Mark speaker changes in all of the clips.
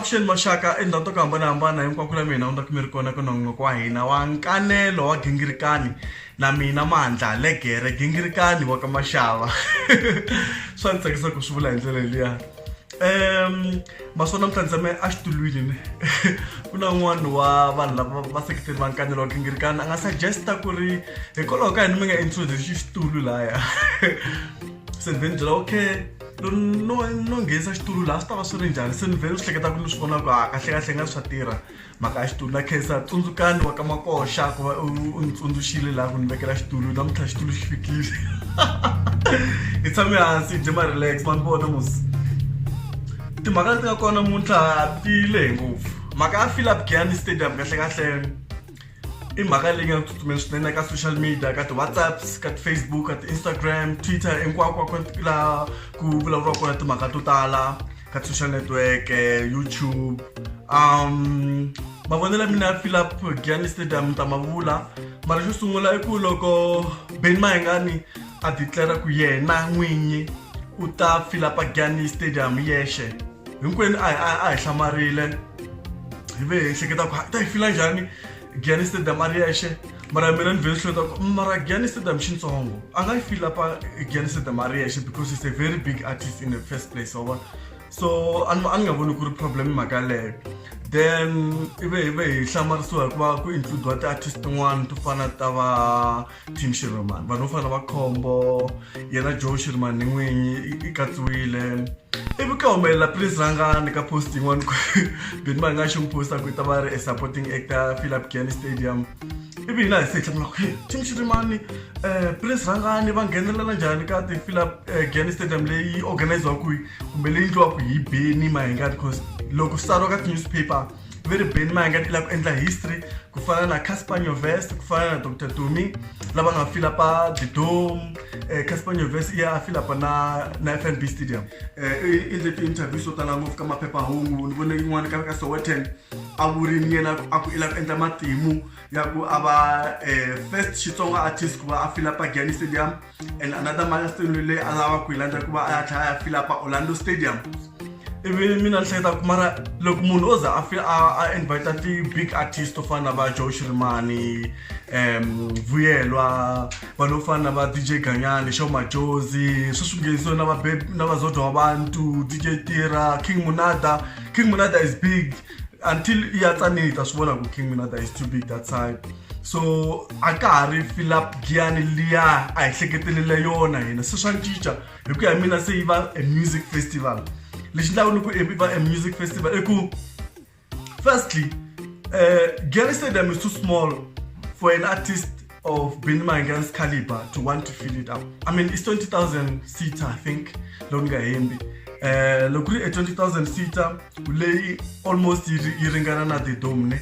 Speaker 1: avuxeni maxaka endhawu to ku hambanahambana hinkwako la mina undzaku mi ri kona ku nongonoko wa hina wa nkanelo wa gingirikani na mina mandla legere gingirikani wa ka maxava swa ni tsakisa ku swi vula hi ndlela liya um maswona mi tsandzame a xitulwini ni ku na un'wana wa vanhu lava va seketeri va nkanelo wa gingirikana a nga suggesta ku ri hikwalaho ka yini mi nga introduce xitulu laya se ni ve ni byela okay no no nghenisa xitulu laha swi ta va swi ri njhani se ni ve ni swi hleketa ku ni swi vona ku ha kahlekahle nga swa tirha mhaka ya xitulu na khensa tsundzukani wa ka makoxa ku va u ni tsundzuxile laha ku ni vekela xitulu namuntlha xitulu xi fikile hi tshame hansi hi dye ma-relax ma ni vona mos timhaka leti nga kona muntlha ti lehe ngopfu mhaka ya philip giani stadium kahlekahle i mhaka leyi nga tsutsumela swinene ka social media ka ti-whatsapps ka ti-facebook ka ti-instagram twitter hinkwako laha ku vulavuriwa kona timhaka to tala ka social network eh, youtube um mavonelo ya mina ya philip giani stadium ta mavula mara xo sungula i ku loko beni mahengani a declara ku yena n'winyi u ta philapa giani stadium yexe hinkwenu a hi hlamarile hi ve hi hleketa ku ta yi fila njhani Janice the Maria she mara mina ni vele hlota ku mara Janice the mxintsongo a nga feel up Janice the Maria she because he's a very big artist in the first place over so an an nga voni ku ri problem mhaka leyo then ive ive hi hlamarisiwa hikuva ku include-wa ti-artist tin'wani to fana ta va tim shirman vanhu vo fana va khombo yena joe shirman ni n'winyi i katsiwile ivi ka humelela please rhangani ka post yin'wana ku bini va nga xi n'wi posta ku i ta va ri e supporting actor philip gani stadium ivi hina hi se hlamula ku tim shirimani um eh, please rhangani va nghenelela njhani ka ti philip eh, gani stadium leyi organiziwaka kumbe leyi ndliwaka hi beni mahingani because loko swi tsariwa ka ti-newspaper ve ri Benni Mayengani i lava ku endla history ku fana na Casper Nyovest ku fana na Dr Tumi lava nga fila pa The Dome eh, Casper Nyovest i ya a fila pa na na FNB Stadium eh, i endle ti-interview swo tala ngopfu ka maphephahungu ni vone yin'wana ka ka Sowetan a vurini yena a ku i lava ku endla matimu ya ku a va eh, first Xitsonga artist ku va a fila pa Gianni Stadium and another milestone leyi a lava ku yi landza ku va a ya tlhela a ya fila pa orlando stadium ivi mina ni hleketa ku mara loko munhu o za a fila a invita ti-big artist to fana na va joe shirimani um vuyelwa vanhu vo fana na va dj ganyani xo majozi swi swi nghenisiwe na va na vazodwa wa bantu dj tira king munada king munada is big until i ya tsanile i ta swi vona ku king minata is too big that side so a ka ha ri philip giyani liya a hi hleketelele yona hina se swa cinca hi ku ya hi mina se yi va a music festival lexi ndlaku ni ku i va a music festival i ku firstly uh, giyani stadium is too small for an artist of Benny Maingans caliber to want to fill it up. I mean, it's 20,000 seats, I think, Longa Hembi. Uh, loko ri e 20000 seater leyi almost yi ringana na the dome ne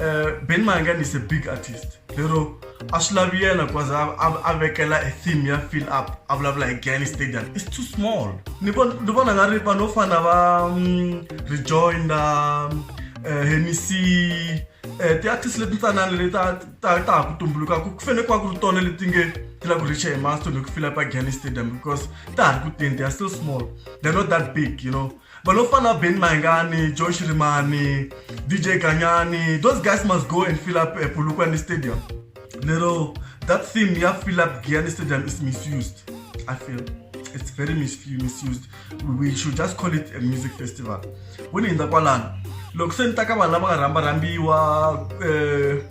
Speaker 1: uh, ben mangan is a big artist lero a swi lavi yena because a vekela a theme ya fill up a vulavula hi gani stadium it's too small ni vona nga ri vanhu vo fana va mm, rejoinder um, uh, hemisi uh, ti-artist leti ntsanana leti ta ta ha ku tumbuluka ku fanele ku va ku ri tona leti nge ti lava ku richa hi milestone hi ku fila pa gani stadium because ta ha ri ku teni they are still small they're not that big you know vanhu vo fana ben mahingani josh rimani dj ganyani those guys must go and fill up eh, pulukwani stadium lero that theme ya fill up gani stadium is misused i feel it's very misused we should just call it a music festival vo ni hindza kwalano loko se ni ta ka vanhu lava nga rhamba rhambiwa um eh,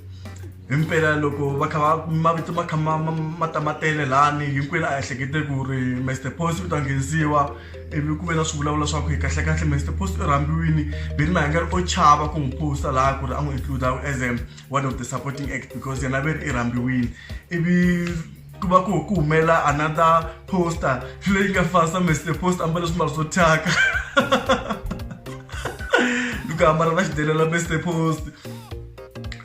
Speaker 1: himpela loko va kha va mavito ma kha ma tamatele lani hinkwenu a ehlekete ku ri master post u ta nghenisiwa ivi ku ve na swi vulavula swa ku hi kahlekahle master post u rhambiwini ve ni mahanga ri o chava ku n'wi posta laha ku ri a n'wi includa as a one of the supporting act because yena ve ri i rhambiwini ivi ku va ku ku humela another poster leyi nga fasa mese poster ambale swimbalo swo thyaka loko ambala va xidelela mese post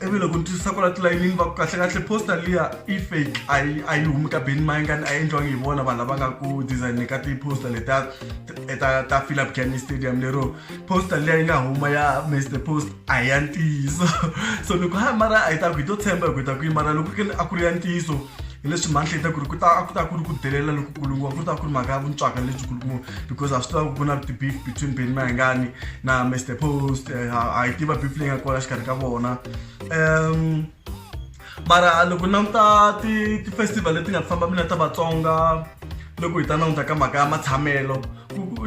Speaker 1: ivi loko ni twisisa kwala tilayinini va ku kahlekahle poster liya i fake a yi a yi humi ka beni mayingani a yi endliwangi hi vona vanhu lava nga ku design ka ti-poster leta ta ta philip canny stadium lero poster liya yi nga huma ya mese post a hi ya ntiyiso so loko ha mara a hi ta ku hi to tshemba hi ku hi ta ku yi mara loko a ku ri ya ntiyiso hileswi mantle yi ta ku ri ku ta a ku ta ku ri ku delela lokukulu ngopfu ku ta ku ri mhaka ya vuntswaka lebyikulu ngopfu because a swi tiva ku ku na ti-beef between beni mahengani na mr post eh, a hi tiva beef leyi nga kona xikarhi ka vona um mara loko hi languta ti-festival leti nga ti famba mina ta vatsonga loko hi ta languta ka mhaka ya matshamelo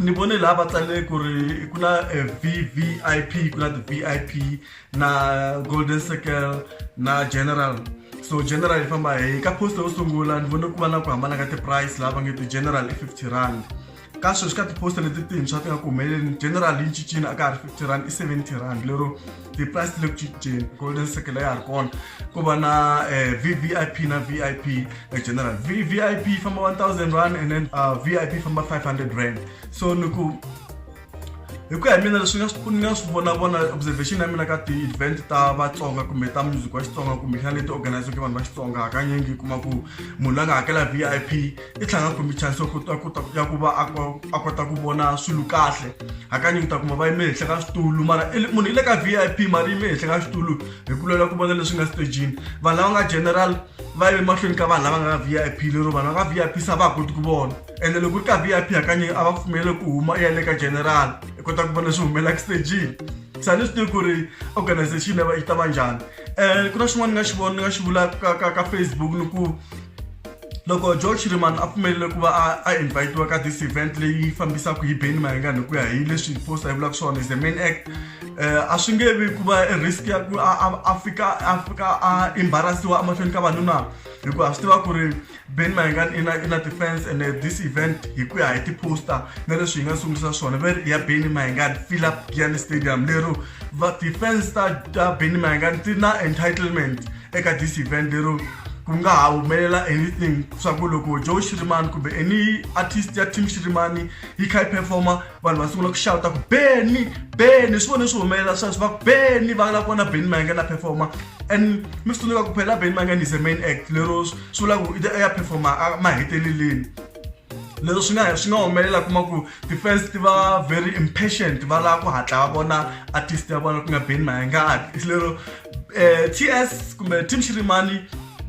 Speaker 1: ni vone laha va tsalele ku ri ku na eh, vvip ku na ti-v i p na golden circle na general so general yi famba hi ka poster yo sungula ni vone ku va na ku hambana ka ti-price laha va nge ti-general i fifty rand ka sweswi ka tiposta leti tintshwa ti nga ku humeleleni general yi cincini a ka ha ri fifty rand i seventy rand lero ti-price ti le ku cinceni golden circle ya ha ri kona ku va na um v v i p na v i p eh, general v v i p yi famba one thousand rand and then uh, v i p yi famba five hundred rand so ni ku hi ku ya hi mina leswi nga swi ni nga swi vonavona observation ya mina ka ti-event ta vatsonga kumbe ta music wa xitsonga kumbe xana leti organizeke vanhu va xitsonga hakanyingi kuma ku munhu la nga hakela v i p i tlhanga kumbe chance ya kota kota ya ku va a kota ku vona swilo kahle hakanyingi ta kuma va yime henhla ka switulu mara munhu i le ka vip mara yime henhla ka switulu hi ku lwela ku vona leswi nga stejini vanhu lava nga general va yime mahlweni ka vanhu lava nga ka vip lero vanhu va nga vip se a va ha koti ku vona ende loko ri ka vip hakanyingi a va pfumelele ku huma i ya le ka general i kota ku vona leswi humelaka stejini se a ni swi tivi ku ri organization yi ta va njhani um ku na xin'wana ni nga xi vona ni nga xi vulaka ka ka ka facebook ni ku loko george shiriman a pfumelele ku va a invitiwa ka this event leyi fambisaka hi beni mayengani hi ku ya hi leswi posta yi vulaka swona is the main act um a swi nge vi ku va risk ya ku a fika a fika a embarasiwa emahlweni ka vanhu na hikuva a swi tiva ku ri beni mayengani i na i na defense and uh, this event hi ku ya hi tiposta na leswi hi nga sungurisa swona ve ya beni mayengani philip giani stadium lero va defense ta ta beni mayengani ti na entitlement eka this event lero ku nga ha humelela anything swa ku loko joe shirimani kumbe any artist ya team shirimani yi kha yi performa vanhu va sungula ku xawuta ku beni beni swi vone swi humelela sweswo va ku beni va la kona beni mayenge na performa and mi swi tsundzuka ku phela beni mayenge is a main act lero swi vula ku i ya performa maheteleleni lero swi nga swi nga humelela kuma ku ti-fans ti va very impatient va lava ku hatla va vona artist ya vona ku nga beni mayenge a lero eh, ts kumbe team shirimani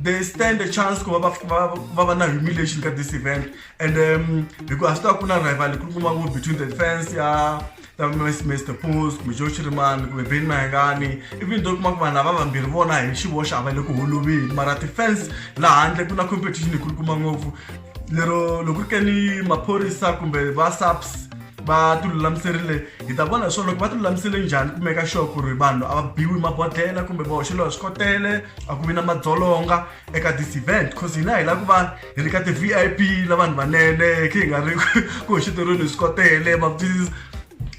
Speaker 1: they stand a chance ku va va- ku va- ku va va na humiliation ka this event and um, hikuva swi ta ku na rival ku kuma ku between the defense ya ta Miss- mr pos kumbe joe shirimani kumbe ben mahengani even though kuma ku vanhu lava vambirhi vona hi xivoxe a va le ku holoveni mara defense laha handle ku na competition yi kulu kuma ngopfu lero loko ri ke ni maphorisa kumbe va saps va ti lulamiserile hi ta vona leswaku loko va ti lulamisele njhani ku meka sure ku ri vanhu a va biwi mabodhlela kumbe va hoxeliwa swikotele a ku vi na madzolonga eka this event cause hina hi lava ku va hi ri ka ti-v i p la vanhu vanene khe hi nga ri ku hoxeteriweni hi swikotele ma please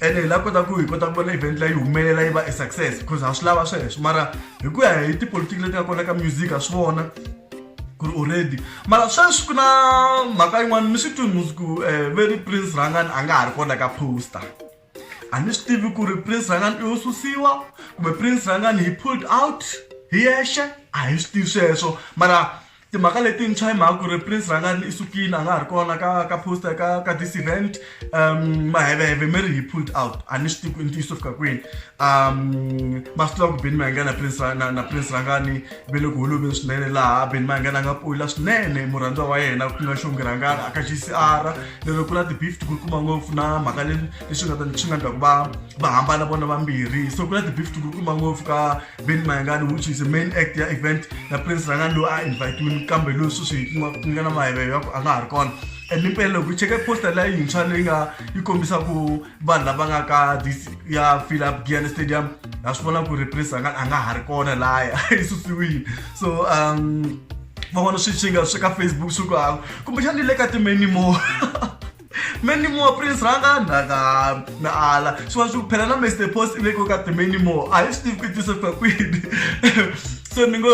Speaker 1: ene hi lava kota ku hi kota ku vona event leyi humelela yi va e success because ha swi lava sweswo mara hi ku ya hi tipolotiki leti nga kona ka music ha swi vona ku ri already mara sweswi ku na mhaka yin'wana ni swi twini musi ku um ve ri prince rangani a nga ha ri kona ka poster a ni swi tivi ku ri prince rangani i yo susiwa kumbe prince rangani hi pulled out hi yexe a hi swi tivi sweswo mara timhaka letintshwa hi mhaka ku ri prince rangani i sukile a nga ha ri kona ka ka poster ka ka this event um maheveve mi ri hi pulled out a ni swi tivi ku i ntiyiso fika kwini um masiku lawa ku beni mayanga na prince na, na prince rangani ve le ku holoveni swinene laha beni mayanga la nga pula swinene murhandziwa wa yena ku nga xongi rangani aka gcr lero ku na ti-beef ti kurikuma ngopfu na mhaka leswi nga ta swi nga ndlaku va va hambana vona vambirhi so ku na ti-beef ti kurikuma ngopfu ka beni mayangani which is main act ya event na prince rangani loyi a invitiwini kambe loyi sweswi ku nga na maheveve ya ku a nga ha ri kona Limpela loko u cheka poster leyi yintshwa leyi nga yi kombisa ku vanhu lava nga ka this ya fill up Giyani Stadium ha swi vona ku ri Prince a nga a nga ha ri kona laya yi susiwile so um van'wana swi swi nga swi ka Facebook swi ku hava kumbexani le ka ti-many more many more prince rhanga na na na ala swi va swi phela na mr post i veke ka ti-many more a hi swi tivi ku tisa ku kwini so ni ngo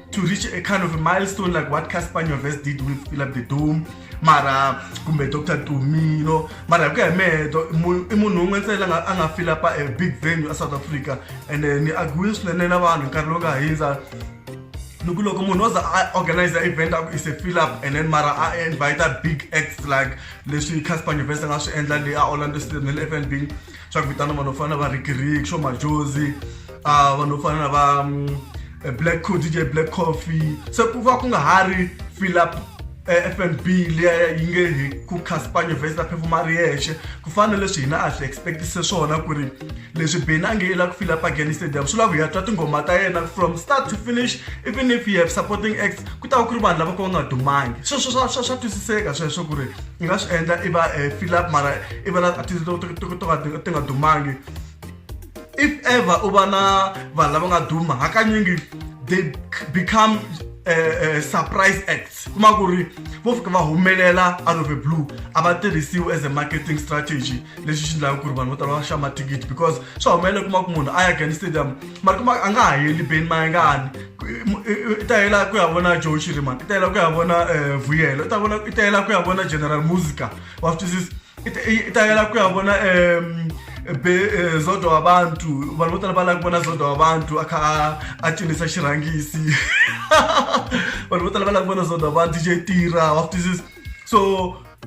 Speaker 1: to reach a kind of a milestone like what Cassper Nyovest did with Fill Up The Dome mara kumbe Dr Dumi you know mara hi ku ya hi mehe do- mu- i munhu un'we ntsena la a nga fill up a big venue a South Africa and eh, ni agree swinene na vanhu nkarhi lowu nga hundza ni ku loko munhu o za a organize event a ku is a fill up and then mara a invite big acts like leswi Cassper Nyovest a nga swi endla le a Orlando Stadium na le FNB swa ku vitana vanhu vo fana na va Ricky Rick Sho Majozi uh, vanhu vo fana na va um, black co dj black coffee se ku va ku nga ha ri philip eh, f n b liya yi nge hi ku caspanye vhesi ta phefuma ri yexe ku fana na leswi hina a swi expectise swona ku ri leswi beni a nge i la ku fila pageni stadium swi lava hi ya twa tinghoma ta yena from start to finish even if you have supporting acts ku ta va ku ri vanhu lava ka va nga dumangi sweswo swa swa swa twisiseka sweswo ku ri i nga swi endla i va um eh, fila mara i va na ti nga dumangi if ever u va na vanhu lava nga duma hakanyingi they become uh, uh, surprise acts kuma ku ri vo fika va humelela out of a blue a va tirhisiwi as a marketing strategy lexi xi ndlaka ku ri vanhu vo tala va xava mathikithi because swa humelela kuma ku munhu a ya gani stadium mara kuma a nga ha heli beni mayengani i ta hela ku ya vona joe chiriman i ta hela ku ya vona um vuyelo i ta hela ku ya vona general musica wa swi twisisa i ta yela ku ya vona um be eh, zodwa wa bantu vanhu vo tala va lava ku vona zodwa wa bantu a kha a cinisa xirhangisi vanhu vo tala va lava ku vona zodwa wa bantu je tirha wa swi twisisa so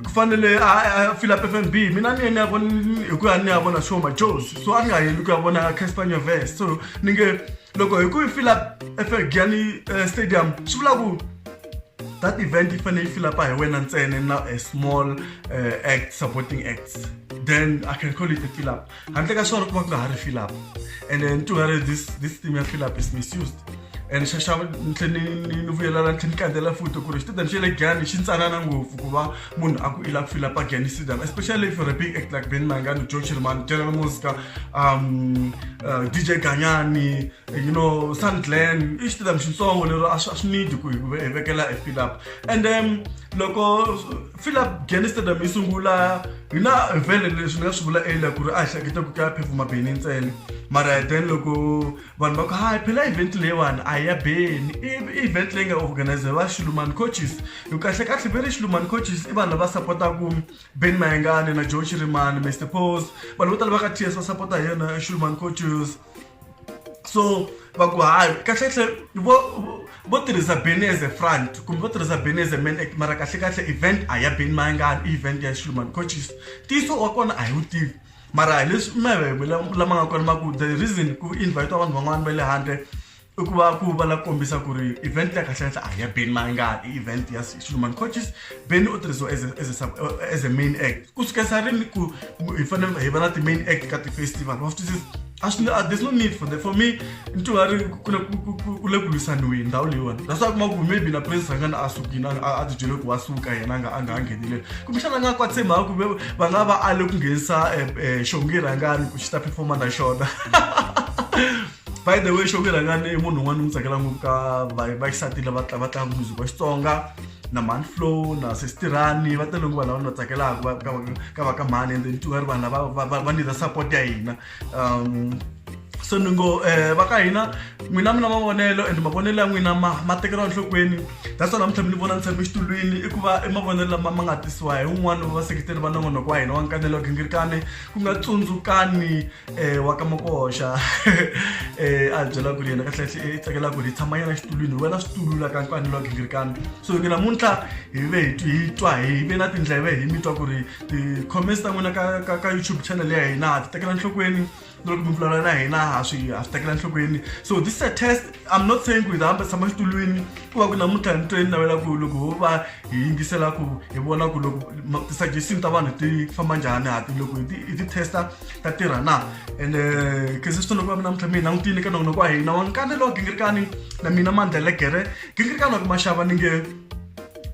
Speaker 1: ku fanele a fila p f n b mina ni ye ni ya vona hi ku ya ni ya vona show majos so a ni nga yeli ku ya vona caspania vest so ni nge loko hi ku yi fila f n b yani eh, stadium swi vula ku that event yi fanele yi filapa hi wena ntsena na a small uh, act supporting acts then i can call it a fill up handle ka swona ku va ku nga ha ri fill up and then to her this this theme ya fill up is misused and xaxava ni tlhe ni vuyelana ni tlhe ni kandzela futi ku ri xitidani xa le gani xi ntsanana ngopfu ku va munhu a ku i lava ku fila pagani sidan especially if you're a big act like ben mangani joe chirman general musica um uh, dj ganyani you know sun glen i xitidam xitsongo lero a swi need ku hi vekela e fill up and then um, loko fill up gene stadium yi sungula hi na vhele leswi ni nga swi vula earlier ku ri a hi hleketa ku ka phefuma beni ntsena mara then loko vanhu va ku hayi phela event leyiwani a ya beni i event leyi nga organizer va xilumani coaches hi kahle kahle ve ri xilumani coaches i vanhu lava sapotaku ben mayengane na joe chirimani mr pose vanhu vo tala va ka ts va sapota hi yona xilumani coaches so va ku hayi kahlekahle vo vo tirhisa beni as a front kumbe vo tirhisa beni as a man act mara kahlekahle event a ya beni mayangani i event ya xilumani coaches ntiyiso wa kona a hi wu tivi mara hi leswi maveve lama nga kona ma ku the reason ku invite vanhu van'wana va le handle i ku va ku va la kombisa ku ri event ya kahlekahle a hi ya beni mayangani i event ya xilumani coaches beni u tirhisiwa as a, as a, as a main act ku sukisa rini ku hi fanele hi va na ti-main act ka ti-festival wa swi twisisa a swi a there's no need for that for me nti nga ri ku le ku- ku- ku- ku le ku lwisaniweni ndhawu leyiwani that's why kuma ku maybe na president a nga na a sukile a- a a ti byele ku wa suka yena a nga a nga ha ngheneleli kumbexana a nga kwatise mhaka kumbe va nga va ale ku nghenisa um xongi rhangani ku xi ta performa na xona by the way xongi rhangani i munhu un'wana ni n'wi tsakela ngopfu ka va- vaxisati lava tla- va tlanga music wa xitsonga na mhani flow na sestirani va tele nguvana va na tsakelaka ka va ka mhani ende ni tingari vanhu lava va nidza support ya hina um so ni ngo um va ka hina n'wina mi na mavonelo and mavonelo ya n'wina ma ma tekeriwa enhlokweni that's why namuntlha mi ni vona ni tshame exitulwini i ku va i mavonelo lama ma nga tisiwa hi un'wana wa vaseketeri va nongonoko wa hina wa nkanelo wa gingirikane ku nga tsundzukani wa ka makoxa a hi byela ku ri yena kahlekahle i tsakela ku ri hi tshama yena xitulwini hi wela switulu la ka nkwani wa gingirikana so ke namuntlha hi ve hi hi twa hi ve na tindleve hi mi twa ku ri ti-comments ta n'wina ka ka ka youtube channel ya hina ha ti tekela nhlokweni loko mi vulavula na hina ha swi ha swi tekela nhlokweni so this is a test I'm not saying ku hi ta hamba tshama xitulwini ku va ku namuntlha ni tweni navela ku loko ho va hi yingisela ku hi vona ku loko ti-suggestion ta vanhu ti famba njhani hati loko hi ti-testa ta tirha na and eh, khese swi toloku va mi namuntlha mi hi langutile ka nongonoko wa hina wa nkanelo wa gingirikani na mina mandlele gere gingirikani wa ku maxava ni nge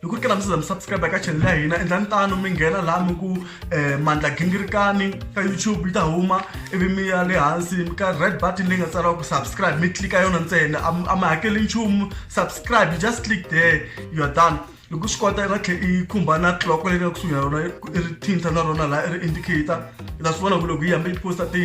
Speaker 1: loko ku ri ka laha mi za mi subscribe ka channel ya hina endlani tano mi nghena laha mi ku um mandla gingirikani ka youtube yi ta huma ivi mi ya le hansi ka red button leyi nga tsariwa ku subscribe mi tlika yona ntsena a mi hakeli nchumu subscribe you just click there you are done loko swi kota va tlhe i khumba na clock leyi nga kusuhi na rona i ri thinta na rona laha i ri indicator i ta swi vona ku loko yi hambi yi posta ti